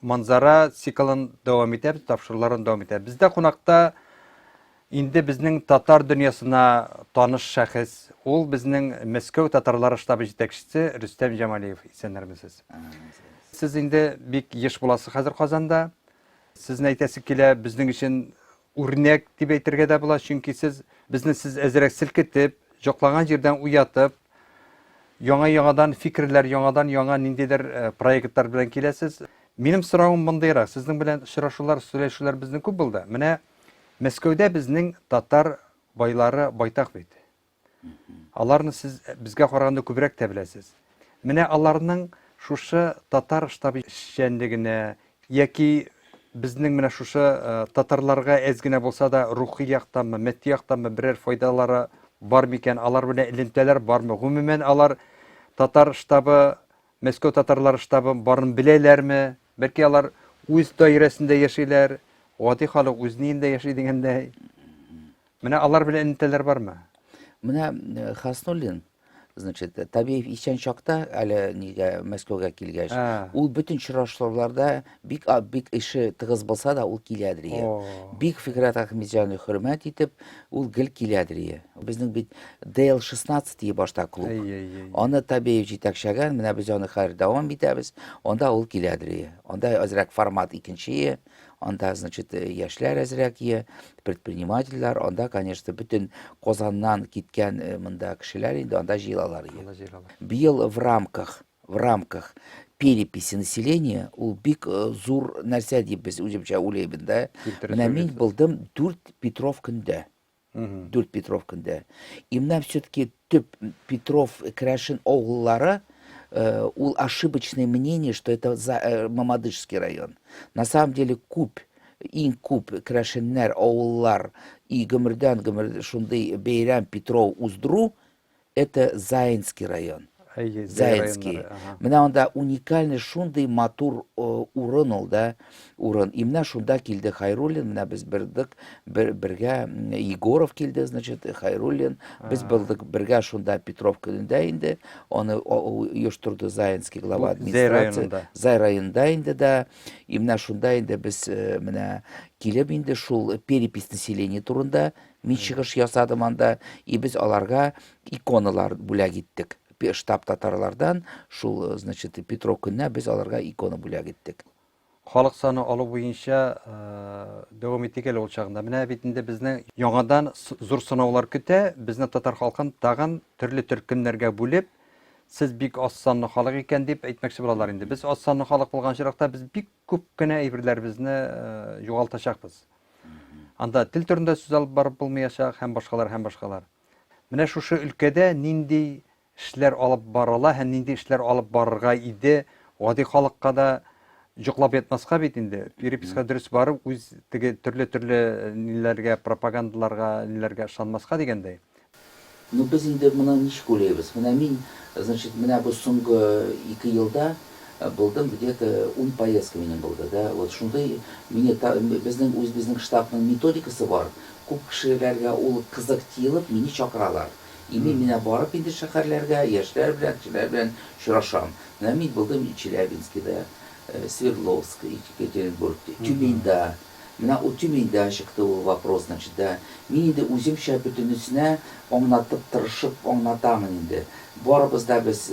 Манзара циклын дәвам итәбез, тапшыруларын дәвам итәбез. Бездә кунакта инде безнең татар дөньясына таныш шәхес, ул безнең Мәскәү татарлары штабы җитәкчесе Рөстәм Җамалиев. Исәннәрмесез? Сез инде бик еш буласыз хәзер Казанда. Сезне әйтәсе килә, безнең өчен үрнәк дип әйтергә дә була, чөнки сез безне сез әзрәк селкетеп, җоклаган җирдән уятып, Яңа-яңадан фикерләр, яңадан-яңа ниндидер проектлар белән киләсез. Минем соравым мондыйрак, сезнең белән очрашулар, сөйләшүләр безнең күп булды. Менә Мәскәүдә безнең татар байлары байтак бит. Аларны сез безгә караганда күбрәк тә беләсез. Менә аларның шушы татар штабы эшчәнлегенә, Яки безнең менә шушы татарларга әз генә булса да рухи яктанмы, мәдди яктанмы берәр файдалары бар микән, алар белән элемтәләр бармы? Гомумән алар татар штабы, Мәскәү татарлары штабы барын беләләрме? Бәлки алар үз даирәсендә яшиләр, гади халык үз ниендә яши дигәндәй. Менә алар белән элемтәләр бармы? Менә э, Хаснуллин, значит, Табиев исән чакта, әле нигә Мәскәүгә килгәч, Ә. ул бөтен очрашларда бик а- бик эше тыгыз булса да, ул киләдер ие. О. Бик Фикърәт Әхмедҗанны хөрмәт итеп, ул гел киләдер ие. Безнең бит DL16 дие башта клуб. Әй, әй, әй. Аны Табиев җитәкчәгән, менә без аны хәзер дәвам итәбез. Анда ул киләдер ие. Анда әзрәк формат икенче ие. Анда, значит, э, яшьләр әзрәк ие, предпринимательләр, анда, конечно, бөтен Казаннан киткән э, монда кешеләр инде анда җыелалар ие. Анда җыелалар. Быел в рамках в рамках переписи населения ул бик э, зур нәрсә дип без үземчә уйлыйбыз да. Менә мин булдым 4 Петров көндә. дүрт Петров көндә. И менә все-таки төп Петров Крәшен авыллары э, ул ошибочное мнение, что это за, э, Мамадышский район. На самом деле күп иң күп Крәшеннәр авыллар и гөмердән гөмер шундый бәйрәм Петров уздыру Это Заинский район. Әйе, Заинский. Менә анда уникальный шундый матур урын ул да, урын. И менә шунда килде Хайруллин, менә без бердек, бер, бергә Егоров килде, значит, Хайруллин. Без булдык бергә шунда Петров көнендә инде. Аны оештырды Заинский глава администрации. Зай районында инде да. И менә шунда инде без менә килеп инде шул перепись населения турында Мин чыгыш ясадым анда, и без аларга иконалар бүләк иттек. Штаб татарлардан шул, значит, Петро көненә без аларга икона бүләк иттек. Халык саны алу буенча дәвам итик әле ул чагында. Менә бит инде безне яңадан зур сынаулар көтә. Безне татар халкын тагын төрле төркемнәргә бүлеп, сез бик аз санлы халык икән дип әйтмәкче булалар инде. Без аз санлы халык булган очракта без бик күп кенә әйберләребезне югалтачакбыз. Анда тел турында сүз алып барып булмыячак һәм башкалар һәм башкалар. Менә шушы өлкәдә нинди эшләр алып барыла һәм нинди эшләр алып барырга иде, гади халыкка да җоклап ятмаска бит инде. Переписка дөрес барып, үз теге төрле-төрле ниләргә, пропагандаларга, ниләргә ышанмаска дигәндәй. Ну без инде моны ничек уйлыйбыз? Менә мин, значит, менә бу соңгы ике елда булдым, где-то ун поездка минем булды, да, вот шундый мине та, безнең үзебезнең штабның методикасы бар, күп кешеләргә ул кызык тиелып, мине чакыралар. И мин менә барып инде шәһәрләргә, яшьләр белән, кешеләр белән очрашам. Менә мин булдым Челябинскида, Свердловск, Екатеринбург, Тюменьда. Менә үти миндә чыкты ул вопрос, значит, да. Мин инде үземчә бөтенесенә аңлатып тырышып аңлатамын инде. Барыбыз да без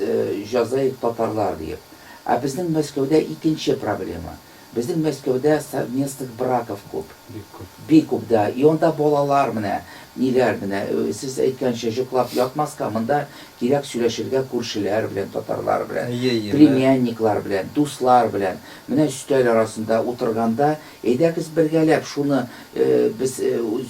җазаев татарлар диеп. Ә безнең Мәскәүдә икенче проблема. Безнең Мәскәүдә совместных браков күп. Бик күп. Бик күп, да. И анда балалар менә ниләр менә, сез әйткәнчә, җоклап ятмаска, монда кирәк сөйләшергә күршеләр белән татарлар белән, племянниклар белән, дуслар белән. Менә өстәл арасында утырганда, әйдәгез бергәләп шуны без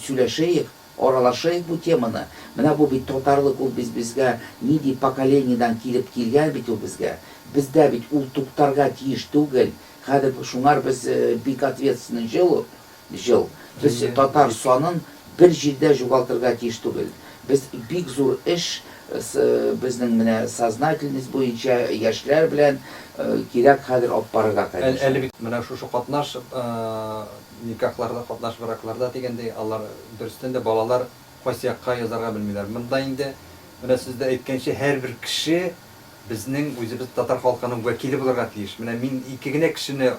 сөйләшәек, аралашыйк бу теманы. Менә бу бит татарлык, ул без безгә нинди поколениедән килеп килгән бит ул безгә. Бездә бит ул туктарга тиеш түгел. Хәзер шуңар без бик ответственный җил ул. Җыл. Без татар санын бер җирдә җугалтырга тиеш түгел. Без бик зур эш с безнең менә сознательность буенча яшьләр белән кирәк хәзер алып барырга кадәр. Әле бит менә шушы катнаш никахларда, катнаш бракларда дигәндәй, алар дөрестән дә балалар кайсы якка язарга белмиләр. Монда инде, менә сез дә әйткәнчә, һәрбер кеше безнең үзебез татар халкының вәкиле булырга тиеш. Менә мин ике генә кешене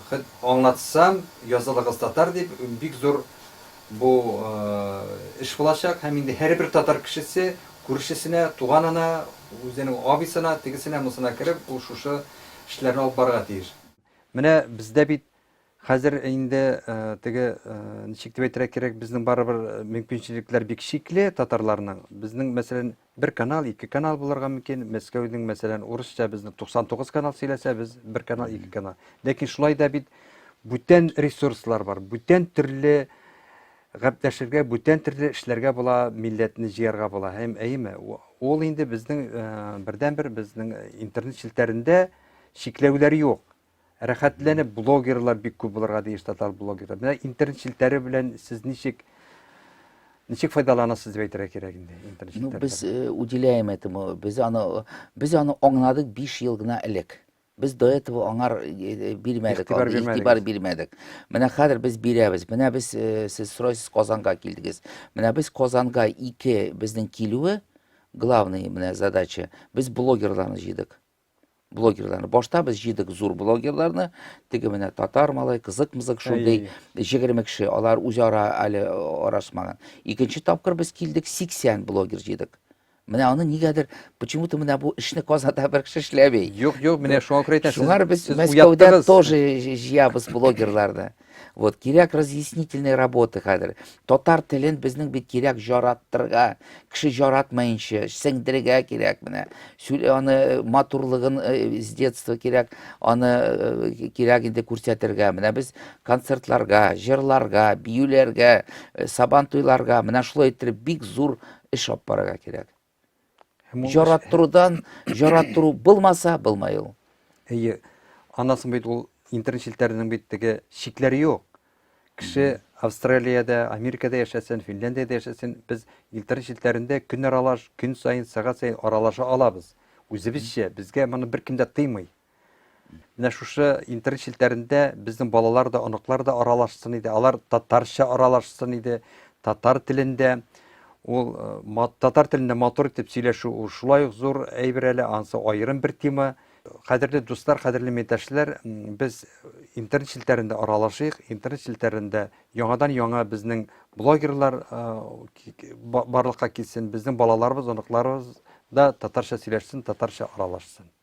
Хет аңлатсам, язылыгыз татар дип, бик зур бу эш булачак һәм инде һәрбер татар кешесе күршесенә, туганына, үзенең абыйсына, тегесенә, монысына кереп, ул шушы эшләрне алып барырга тиеш. Менә бездә бит хәзер инде теге, ничек дип әйтергә кирәк, безнең барыбер мөмкинчелекләр бик чикле татарларның. Безнең мәсәлән. Бер канал, ике канал булырга мөмкин. Мәскәүнең, мәсәлән, урысча безне 99 канал сөйләсә, без бер канал, ике канал. Ләкин шулай да бит бүтән ресурслар бар, бүтән төрле гәпләшергә, бүтән төрле эшләргә була, милләтне җыярга була. Һәм әйеме, ул инде безнең э, бердәнбер безнең интернет челтәрендә чикләүләр юк. Рәхәтләнеп блогерлар бик күп булырга тиеш татар блогерлар. Менә интернет челтәре белән сез ничек ничек файдаланасыз дип әйтергә кирәк инде интернет челтәре. Ну, без э, уделяем этому. Без аны без аны аңладык 5 ел гына элек. Без до этого аңар э, э, бирмәдек, игътибар бирмәдек. Игътибар бирмәдек. Менә хәзер без бирәбез. Менә без сез сорайсыз Казанга килдегез. Менә без Казанга 2 безнең килүе главный менә задача. Без блогерларны җыйдык. блогерларны башта без җыйдык зур блогерларны теге менә татар малай кызык мызык шундый җегерме кеше алар үзара әле арашмаган икенче тапкыр без килдек сиксән блогер җыйдык менә аны нигәдер почему то менә бу эшне казанда бер кеше эшләми юк юк менә шуңа күрә әйтәм шуңар без мәскәүдә тоже җыябыз блогерларны Вот кирәк разъяснительный работа хәзер. Татар телен безнең бит кирәк жараттырга, кеше жаратмаенча, сеңдергә кирәк менә. Аны э, матурлыгын э, с детства кирәк, аны э, кирәк инде күрсәтергә. Менә без концертларга, җырларга, биюләргә, сабан туйларга, менә шулай иттереп бик зур эш алып барырга кирәк. Жараттырудан жараттыру булмаса, булмай ул. Әйе. Анасын бит ул интернет челтәренең бит теге чикләре юк. Кеше Австралиядә, Америкада яшәсен, Финляндиядә яшәсен, без интернет челтәрендә көн аралаш, көн саен, сәгать саен аралаша алабыз. Үзебезчә, безгә моны беркем дә тыймый. Менә шушы интернет челтәрендә безнең балалар да, оныклар да аралашсын иде. Алар татарча аралашсын иде, татар телендә. Ул э, татар телендә матур итеп сөйләшү ул шулай ук зур әйбер әле, ансы аерым бер тема. Кадерле дуслар, кадерле милдәшләр, без интернет челтәрендә аралашыйк, интернет челтәрендә яңадан-яңа безнең блогерлар э, барлыкка килсен, безнең балаларыбыз, оныкларыбыз да татарча сөйләшсен, татарча аралашсын.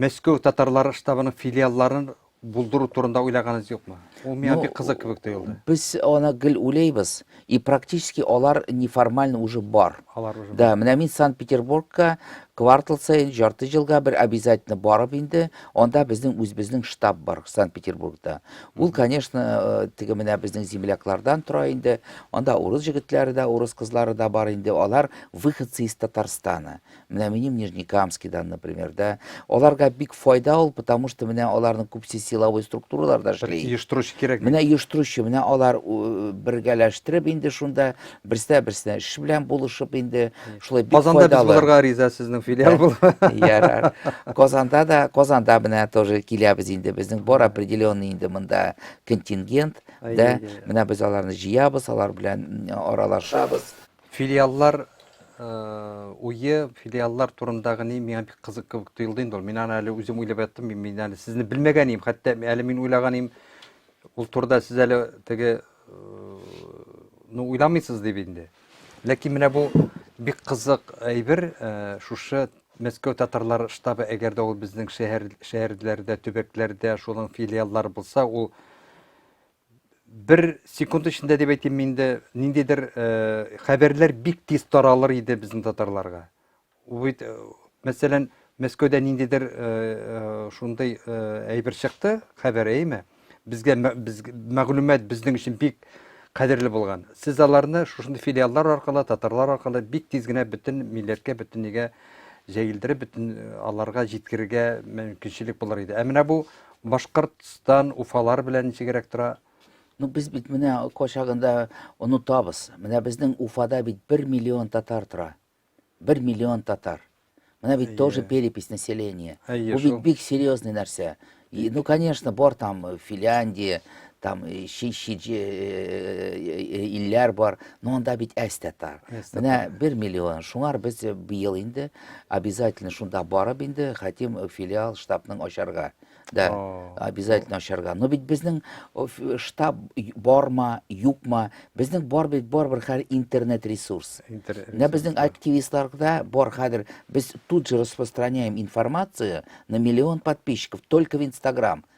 Мәскәү татарлары штабының филиалларын булдыру турында уйлаганыгыз юкмы? Ул миңа бик кызык кебек тоелды. Без аны гел уйлыйбыз, и практически алар неформально уже бар. Алар уже. Да, менә мин Санкт-Петербургка квартал саен, жарты елга бер обязательно барып инде, анда безнең үзебезнең штаб бар Санкт-Петербургта. Ул, конечно, э, теге менә безнең земляклардан тора инде. Анда урыс җегетләре дә, урыс кызлары да бар инде. Алар выходцы из Татарстана. Менә минем Нижнекамский да, например, да. Аларга бик файда ул, потому что менә аларның күпсе силовой структураларда эшли. Оештыручы кирәк. Менә оештыручы, менә алар бергәләштереп инде шунда берсә берсенә эш белән булышып инде шулай бик файдалы. Казанда без булырга риза сезнең филиал булыр. Ярар. Казанда да, Казанда менә тоже киләбез инде. Безнең бар определенный инде монда контингент, да. Менә без аларны җыябыз, алар белән аралашабыз. Филиаллар уе, филиаллар турындагы ни миңа бик кызык кебек тоелды инде ул. Мин аны әле үзем уйлап яттым, мин әле сезне белмәгән идем, хәтта әле мин уйлаган идем, ул турыда сез әле теге ну уйламыйсыз дип инде. Ләкин менә бу бик кызык әйбер, шушы Мәскәү татарлар штабы, әгәр дә ул безнең шәһәр шәһәрләрдә, төбәкләрдә шуның филиаллары булса, ул бер секунд эчендә дип әйтим мин дә ниндидер э, хәбәрләр бик тиз таралыр иде безнең татарларга бит э, мәсәлән мәскәүдә ниндидер э, шундый әйбер чыкты хәбәр әйме безгә без мәгълүмат безнең өчен бик кадерле булган сез аларны шушындый филиаллар аркылы татарлар аркылы бик тиз генә бөтен милләткә бөтен нигә җәелдереп бөтен аларга җиткерергә мөмкинчелек булыр иде ә менә бу Башкортстан уфалар белән ничегрәк тора? Ну, без бит менә качагында онытабыз. Менә безнең Уфада бит 1 миллион татар тора. 1 миллион татар. Менә бит тоже перепись населения. Бу бит бик серьезный нәрсә. И, ну, конечно, бар там э, Финляндия, там э, шишиджи э, э, илләр бар, но анда бит әз татар. Менә 1 миллион. Шуңар без быел инде обязательно шунда барып инде хәтим филиал штабның ачарга. Да, обязательно ачарга. Но бит безнең штаб барма, юкма, безнең бар бит бар бер хәр интернет ресурс. Менә безнең активистларда бар хәзер без тут же распространяем информацию на миллион подписчиков только в Инстаграм.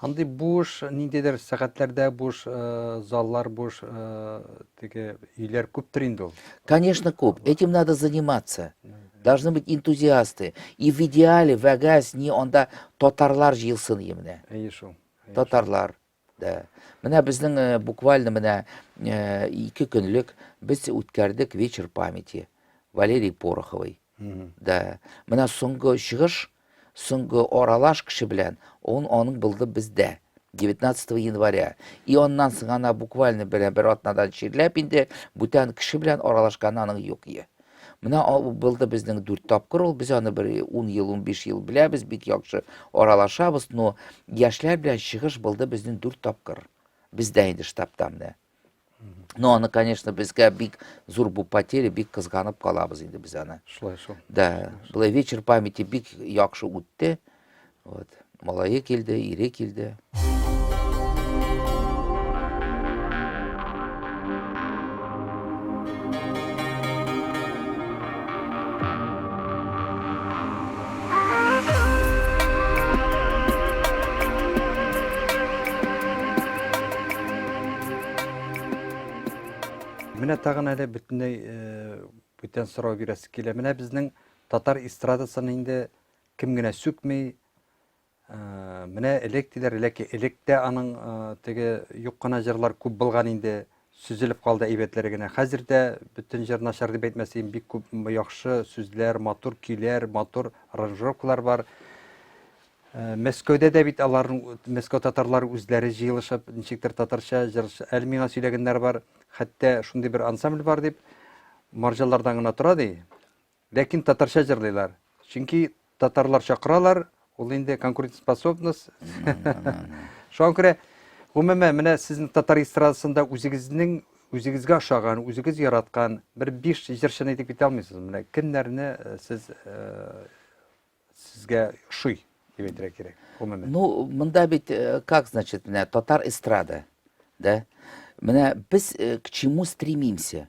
Андый буш, ниндидер сәгатьләрдә буш заллар, буш теге өйләр күптер инде ул. Конечно, күп. Этим надо заниматься. Должны быть энтузиасты. И в идеале, вәгәз, ни анда татарлар җыелсын ие менә. Әйе шул. Татарлар. Да. Менә безнең э, буквально менә э, ике көнлек без үткәрдек вечер памяти Валерий Пороховой. Да. Менә соңгы чыгыш, соңгы аралаш кеше белән, он аның булды бездә. 19 января. И аннан соң ана буквально бер, бер атнадан чирләп инде бүтән кеше белән аралашкан аның юк е. Менә булды безнең дүрт тапкыр ул, без аны бер 10 ел, 15 ел беләбез, бик яхшы аралашабыз, но яшьләр белән чыгыш булды безнең дүрт тапкыр. Бездә инде штабта менә. но аны конечно безгә бик зур бу потеря бик кызганып калабыз инде без аны шулай шул да былай вечер памяти бик яхшы үтте вот малае килде ире килде Менә тагын әле бөтенләй бүтән сорау бирәсе килә. Менә безнең татар эстрадасына инде кем генә сүкми, Менә элек диләр, ләкин элек тә аның теге юк кына җырлар күп булган инде, сүзелеп калды әйбәтләре генә. Хәзер дә бөтен җыр начар дип әйтмәсәм, бик күп яхшы сүзләр, матур көйләр, матур аранжировкалар бар. Мәскәүдә дә бит аларның Мәскәү татарлары үзләре җыелышып, ничектер татарча җыр әле миңа сөйләгәннәр бар. Хәтта шундый бер ансамбль бар дип, марҗалардан гына тора ди. Ләкин татарча җырлыйлар. Чөнки татарлар чакыралар, ул инде конкурентоспособность. Шуңа күрә, гомумән, менә сезнең татар эстрадасында үзегезнең үзегезгә ошаган, үзегез яраткан бер биш җырчыны әйтеп китә алмыйсызмы? Менә кемнәрне э, сез э, сезгә ошый дип әйтергә кирәк, гомумән. Ну, монда бит э, как значит, менә татар эстрада, да? Менә без к чему стремимся?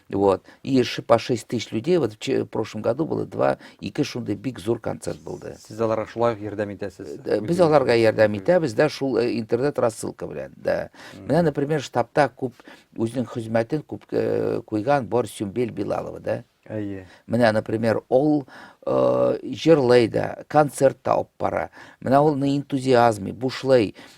Вот. И по 6 тысяч людей, вот в прошлом году было два, ике шундай бик зур концерт булды. Сез аларга шулай ярдәм итәсез? Э, без аларга ярдәм итәбез, да, шул э, интернет рассылка белән, да. Менә, например, штабта күп үзенең хезмәтен күп э, куйган бар Сюмбел Билалова, да. Әйе. Менә, например, ул э, җырлый да, концерт та алып бара. Менә ул на энтузиазме, бушлай. Э,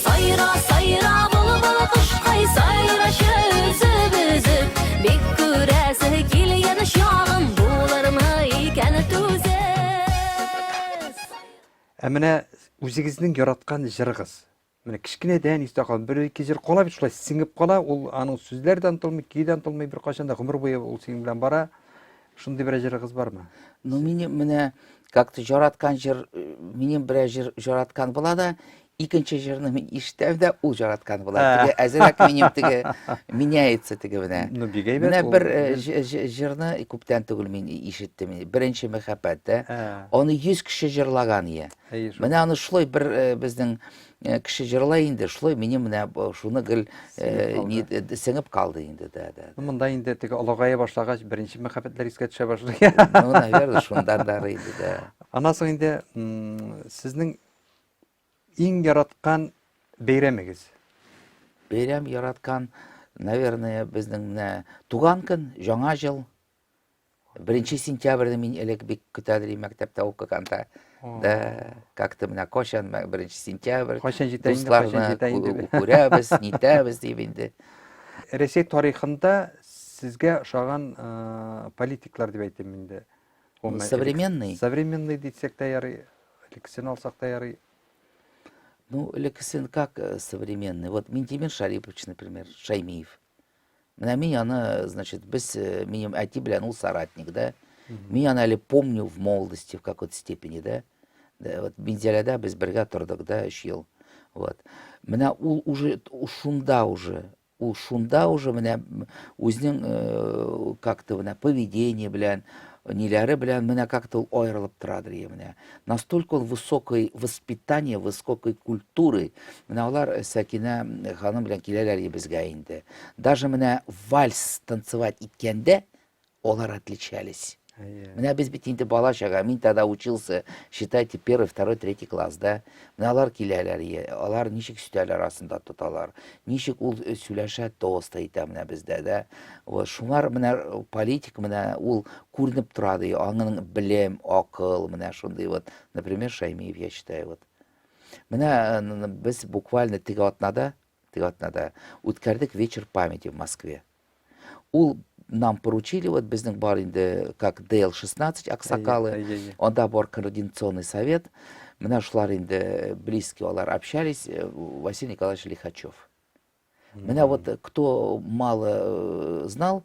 Сайра, сайра, былбыл кошкай, сайрачы үзеп үзеп, бик күрәсе кил яныш ягым, булырмы икән түзеп. Ә менә үзегезнең яраткан җырыгыз. Менә кечкенәдән истә калган бер ике җыр кала бит шулай сеңеп кала, ул аның сүзләре дә онытылмый, көе дә онытылмый, беркайчан да гомер буе ул синең белән бара. Шундый берәр җырыгыз бармы? Ну, минем менә как-то яраткан җыр, э, минем берәр җыр яраткан була да, Икенче җырны мин ишетәм дә, ул җараткан була. Теге әзрәк минем теге меняется теге менә. Ну, бик әйбәт. Менә бер җырны күптән түгел мин ишеттем. Беренче мәхәббәт, да. Аны 100 кеше җырлаган ие. Менә аны шулай бер безнең кеше җырлай инде, шулай минем менә шуны гел сеңеп калды инде, да, да. Монда инде теге алагая башлагач, беренче мәхәббәтләр искә төшә башлый. Ну, наверное, шундан да инде, да. Аннан соң инде сезнең Иң яраткан бәйрәмегез? Бәйрәм яраткан, наверное, безнең менә туган көн, Яңа ел. Беренче сентябрьне мин элек бик көтәдер идем мәктәптә укыганда. Да, как-то менә качан беренче сентябрь. Качан җитә инде, качан җитә инде. Күрәбез, нитәбез дип инде. Рәсәй тарихында сезгә ошаган политиклар дип әйтим инде. Ну, современный. Современный дитсек та ярый, элеккесен алсак та ярый. Ну, элеккесен как э, современный? Вот Минтимир Шарипович, например, Шаймиев. Менә мин аны, значит, без э, минем әти белән ул соратник, да? Мин аны әле помню в молодости в какой-то степени, да? да вот Минзәләдә без бергә тордык, да, 3 ел. Вот. Менә ул уже шунда уже Ул шунда уже менә үзенең э, как-то менә поведение белән, ниләре белән менә как-то ул аерылып торадыр ие менә. Настолько ул высокой воспитание, высокой культуры. Менә алар э, Сәкинә э, ханым белән киләләр ие безгә инде. Даже менә вальс танцевать иткәндә Алар отличались. Менә без бит инде бала чага, мин тогда учился, считайте, первый, второй, третий класста. Менә алар киләләр, алар ничек стәл арасында тоталар, ничек ул э, сөйләшә тост әйтә менә бездә дә. Вот шуңар менә э, политик менә ул күренеп тора ди, аңның белем, акыл, менә шундый вот, например, Шаймиев, я считаю, вот. Менә э, без буквально теге атнада теге атнада үткәрдек вечер памяти в Москве. Ул нам поручили, вот безнең бар инде, как ДЛ-16 аксакалы, анда бар координационный совет, менә шулар инде близкие, алар общались, э, Василий Николаевич Лихачев. Менә вот э, кто мало э, знал,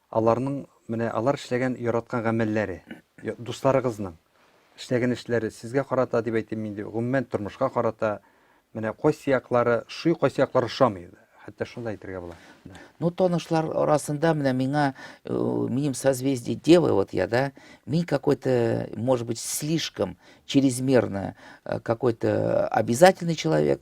Аларның, менә алар эшләгән яраткан гамәлләре, дусларыгызның эшләгән эшләре сезгә карата дип әйтим инде, гомумән тормышка карата, менә кайсы яклары ошый, кайсы яклары ошамый. Хәтта шуны да әйтергә була. Ну, танышлар арасында менә миңа, э, минем созвездие Девы, вот я, да, мин какой-то, может быть, слишком чрезмерно э, какой-то обязательный человек,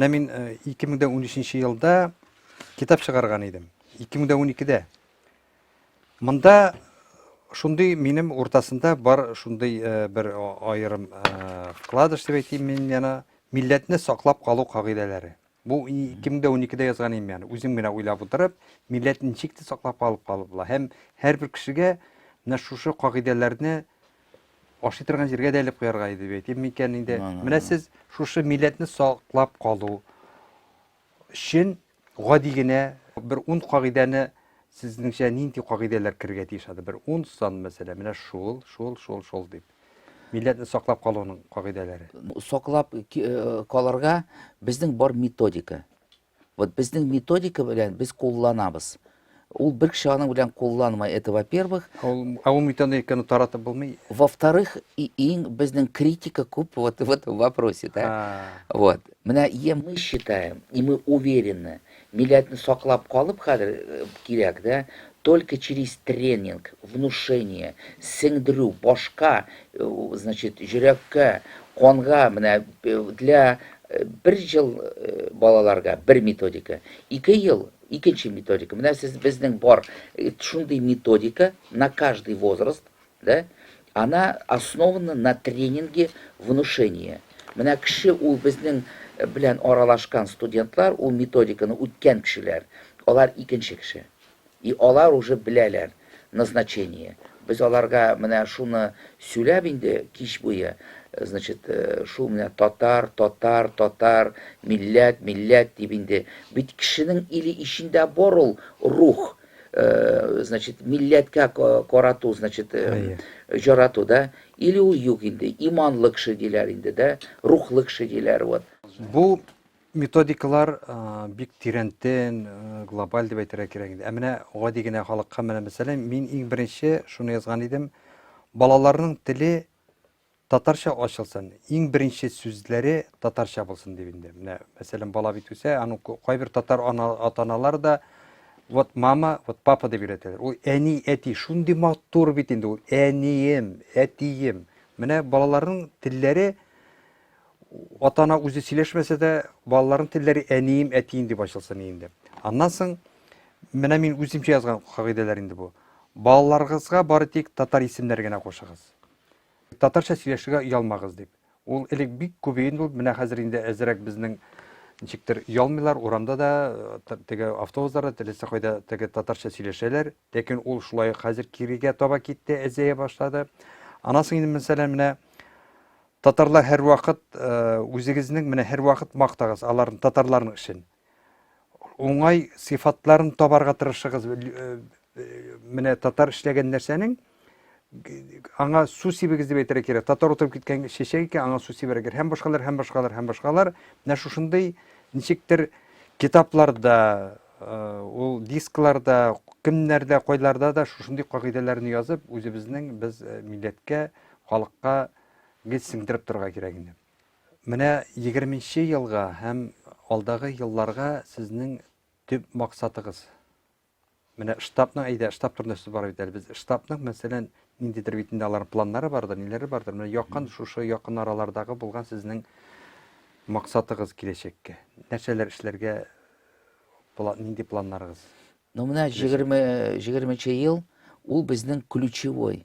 Менә мин 2013 э, елда китап чыгарган идем. 2012-дә. Монда шундый минем уртасында бар шундый э, бер аерым э, вкладыш дип әйтим мин яна милләтне саклап калу кагыйдәләре. Бу 2012-дә язган инде мен, үзем генә уйлап утырып, милләт ничек тә саклап калып калып була. Һәм һәрбер кешегә менә шушы кагыйдәләрне ашый торган җиргә дә элеп куярга иде бит. Әйтим микән инде, менә сез шушы милләтне саклап калу өчен гади генә бер ун кагыйдәне сезнеңчә нинди кагыйдәләр керергә тиеш ады? Бер ун сан мәсәлән, менә шул, шул, шул, шул дип. Милләтне саклап калуның кагыйдәләре. Саклап калырга безнең бар методика. Вот безнең методика белән без кулланабыз. Ул бер кеше аның белән кулланмай, это во-первых. Ә ул методиканы таратып булмый? Во-вторых, иң безнең критика күп вот в этом вопросе, да. Вот. Менә е мы считаем, и мы уверены, Милләтне саклап калып хәзер кирәк дә, только через тренинг, внушение, сеңдерү, башка, значит, җөрәккә, канга, менә для бер ел балаларга бер методика, ике ел икенче методика, менә сез безнең бар шундый методика на каждый возраст, Да? Она основана на тренинге внушения. Менә кеше ул безнең белән аралашкан студентлар, ул методиканы үткән кешеләр. Алар икенче кеше. И алар уже беләләр назначение. Без аларга менә шуны сөйләп инде кич буе, значит, шул менә татар, татар, татар, милләт, милләт дип инде. Бит кешенең или ичендә бар ул рух, значит, милләткә карату, значит, җарату, да? Или ул юк инде, иманлы кеше диләр инде, да? Рухлы кеше диләр, вот. Бу методикалар бик тирәнтен, глобаль дип әйтергә кирәк инде. Ә менә гади генә халыкка менә мәсәлән, мин иң беренче шуны язган идем. Балаларның теле Татарча ачылсын, иң беренче сүзләре татарча булсын дип инде. Менә, мәсәлән, бала бит үсә, аның кайбер татар ана, атаналар да вот мама, вот папа дип өйрәтәләр. Ул әни, әти, шундый матур бит инде ул. Әнием, әтием. Менә балаларның телләре атана үзе сөйләшмәсә дә, балаларның телләре әнием, әтием дип ачылсын инде. Аннан соң менә мин үземчә язган кагыйдәләр инде бу. Балаларыгызга бары тик татар исемнәре генә кушыгыз. Татарча сөйләшергә оялмагыз дип. Ул элек бик күп иде инде ул, менә хәзер инде әзрәк безнең ничектер ялмыйлар, урамда да, э, теге автобусларда, теләсә кайда теге татарча сөйләшәләр. Ләкин ул шулай ук хәзер кирегә таба китте, әзәя башлады. Аннан соң инде, мәсәлән, менә татарлар һәрвакыт э, үзегезнең менә һәрвакыт мактагыз аларны татарларның эшен. Уңай сыйфатларын табарга тырышыгыз. Менә татар эшләгән нәрсәнең аңа су сибегез дип әйтергә кирәк. Татар утырып киткән чәчәк икән, аңа су сибәргә кирәк. Һәм башкалар, һәм башкалар, һәм башкалар. Менә шушындый ничектер китапларда, ул дискларда, кемнәрдә, кайларда да шушындый кагыйдәләрне язып, үзебезнең без милләткә, халыкка гел сеңдереп торырга кирәк инде. Менә егерменче елга һәм алдагы елларга сезнең төп максатыгыз? Менә штабның, әйдә, штаб турында сүз бара бит әле. Без штабның, мәсәлән, ниндидер бит инде аларның планнары бардыр, ниләре бардыр. Менә якын, шушы якын аралардагы булган сезнең максатыгыз киләчәккә. Нәрсәләр эшләргә, нинди планнарыгыз? Ну, менә җигерменче ел, ул безнең ключевой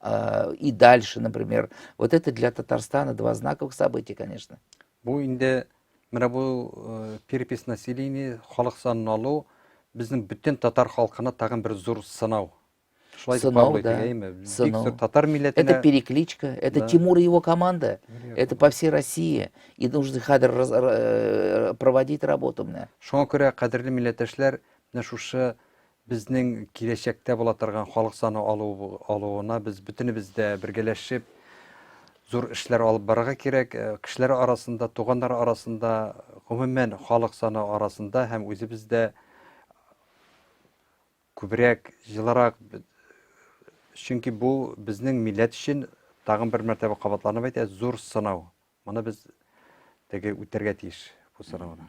А, и дальше, например. Вот это для Татарстана два знаковых события, конечно. Бу инде менә бу э, перепись населения, халык санын алу безнең бөтен татар халкына тагын бер зур сынау. Шулай дип кабул итәйме? Бик зур татар милләтенә. Это перекличка, это да. Тимур и его команда. Верно. Это по всей России. И нужно хәзер э, проводить работу менә. Шуңа күрә кадерле милләттәшләр, менә шушы Безнең киләчәктә була торган халык саны алу алуына без бөтенебез дә бергәләшеп зур эшләр алып барырга кирәк. Э, кешеләр арасында, туганнар арасында, гомумән халык саны арасында һәм үзебез дә күбрәк, җылырак чөнки бу безнең милләт өчен тагын бер мәртәбә кабатланып әйтә, зур сынау. Моны без теге үтәргә тиеш бу сынауны.